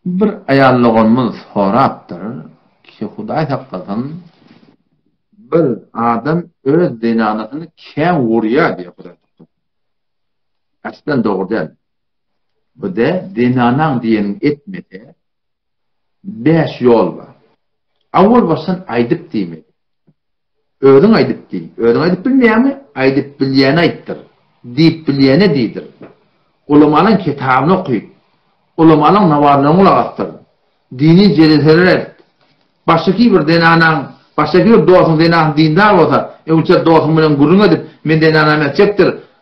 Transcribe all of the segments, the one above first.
Bir aýal doganymyz sorapdyr ki, Hudaý saklasyn, bir adam öz zenanasyny kän urýar diýýär Hudaý saklasyn. Äslen dogry däl. Bir-de zenanaň diýenini etmese, bäş ýol bar. Awwal başdan aýdyp diýmeli. Özüň aýdyp diý. Özüň aýdyp bilmeýäňmi? Aýdyp bilýäne aýtdyr. Diýip bilýäne diýdir. Ulamalaň kitabyny okyt. Ulamalaň nawazyna gulak asdyr. Dini jeleseler et. Başdaky bir zenanaň, başdaky bir dostuň zenanasy dindar bolsa, öňçe dostuň bilen gürrüň edip, men zenanamy etjekdir,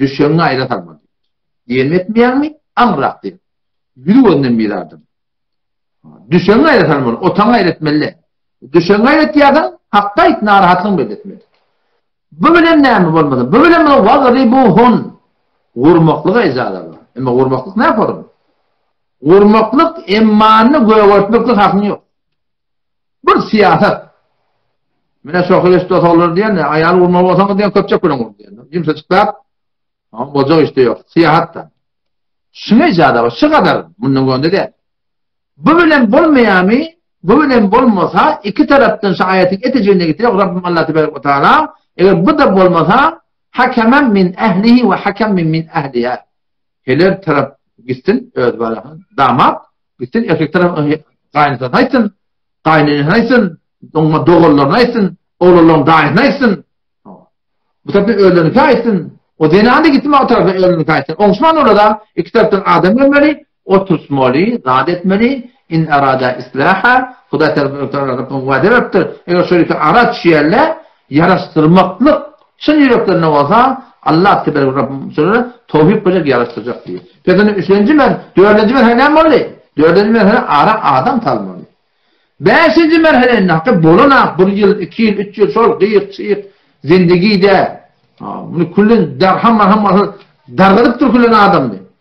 Düşegiňi aýra salma diýipdir. Diýenim etmeýäňmi? Aňyrrak diýip. Ýüz gözünden bir adam. Düşegiňi aýra salmaly, otaňy aýra etmeli. Düşegiňi aýra etýärsiň, hakda aýt, narahatlygyňy belli etme. Bu bilen näme bolmaly? Bu bilen muny wagribuhun. Gurmaklyga ejaza bar. Emma gurmaklyk näformy? Gurmaklyk emmany gögertmeklik hakyň ýok. Bir syýasat. Mine şo hyrysda solar diýen, aýal urmaly bolsaňyz diýen köpçek bilen ur diýen. Jümse çyklap, Oň boljak işde ýok. Syýahatda. Şuňa ijada bar, şu gadar, mundan göni däl. Bu bilen bolmaýamy? Bu bilen bolmasa, iki tarapdan şu aýatyň etejegine getirip, Rabbim Allah tebaraka we taala, eger bu da bolmasa, hakemen min ehlihi we hakemen min ehliha. Heler tarap gitsin öz balasyny damat gitsin erkek tarap gaýynatasyny aýtsyn, gaýynenesini aýtsyn, oňa doganlaryny aýtsyn, oglanlaryň daýysyny aýtsyn. Bu tarapda özleriniňki aýtsyn. O zenan-da gitsin o tarapa özüniňki aýtsyn. Oňuşman olara iki tarapdan adam gelmeli, oturtmaly, zat etmeli. In arada islaha, Hudaý tarapyndan Rabbiň wada beripdir. Eger şol iki ara düşýärler, Ýaraşdyrmaklyk çyn ýüreklerine bolsa Allah teberek Rabbym şolara towfik berjek ýaraşdyrjak diýip. Peki indi üçünji mer, dördünji merhele näme boldy? Dördünji merhele ara adam salmaly. Bäşinji merhele indi hakyt bolana bir ýyl, iki ýyl, üç ýyl şol gyýyk, çyýk zindegide muny küllen darham-marham bolsa dargadyp durkulan adamdy.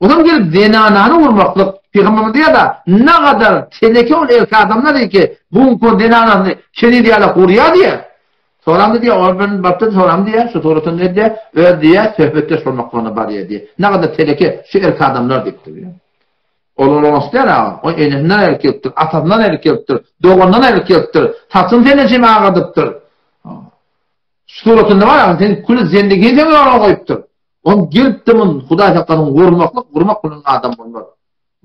Ozal gelip zenanany urmaklyk pygamberimize ýada nagadar teneke ol ilki adamlar diýdi ki bu gün kod zenanany keniz ýalak urýa diýe. Soramdy diýe ol bilen bapda soram diýe şu suratyn edýe öz diýe söhbetdeş bolmaklygyna barýa diýe. Nagadar teneke şu ilki adamlar diýipdir diýe. Ol ol oňat diýe aga. O enesinden aýryp gelipdir, atasyndan aýryp gelipdir, doganyndan aýryp gelipdir. Saçyny senden şeýle agardypdyr. Şu suratynda bar aga sen kül zendigini sen ýola goýupdyr. Ol gelipdi mun Hudaý saklasyn gurmaklyk gurmak bilen adam bolmaz.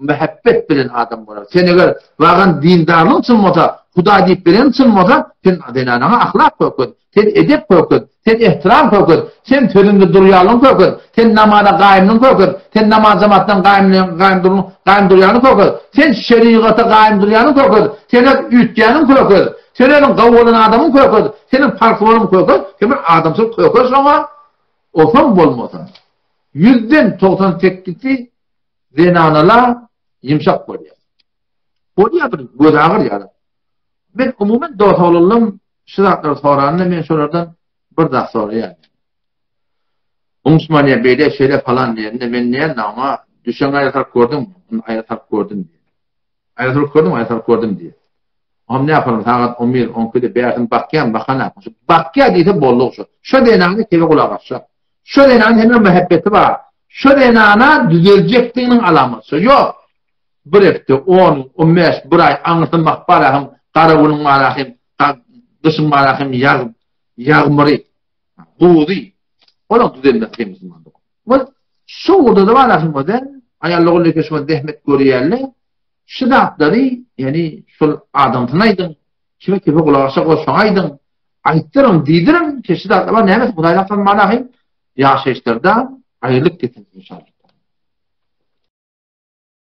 Mähebbet bilen adam bolar. Sen eger wagan dindarlygyň çyn bolsa, Hudaý diýip bereniň çyn bolsa, sen zenanaňa ahlak köket, sen edep köket, sen ehtiram köket, sen sözüňde durýanlygyň köket, sen namaza gaýymlygyň köket, sen namaz jamatdan gaýymlygyň gaýym durlugyň gaýym durýanlygyň köket, sen şerigata gaýym durýanlygyň köket, sen öz üýtýäniň köket, sen özüň gawy bolan adamyň köket, seniň parhly bolan köket, sen bir adamsyz köket şoňa. Osaň bolmasa, ýüzden togsan sekizisi zenanala ýumşak bolýar. Bolýar bir gözagyr ýaly. Men umuman dosoglylym, şu zatlary soranda men şolardan bir zat soraýan. Umsmaniýa beýle şeýle falan diýende men näme ama düşen aýatak gördüm, aýatak gördüm. Aýazrut gördüňmi? Aýazrut gördüm diýýär. Oňam ne ýaparyn, sagat on bir, on ikide bärsini bakýan, bakan-a. Bakýa diýse bolduk şo. Şo zenana kele gulak asjak. Şo zenanyň hemra mähebbeti bar. Şo zenana düzeljekdiginiň alamaty şo. Ýok. Bir hepde, on gün, on bäş, bir aý aňyrsyny bakyp barak hem gara günüň barak hem, gyşyň barak hem ýag, ýagmyry, guzy. Olam düzelmez hemra. Bu şu ugurda da bar aslynda. Aýallar ol ýerde şu zähmet görýärler. Şu zatlary, ýani şol adamsyna aýdyň, kime kime gulak aşa goşaň aýdyň, aýtdyryn, diýdirin, şu zatlar bar, näme Hudaýyň hakyny manaýy ýaşaýyşlarda aýrylyk getirsin inşallah.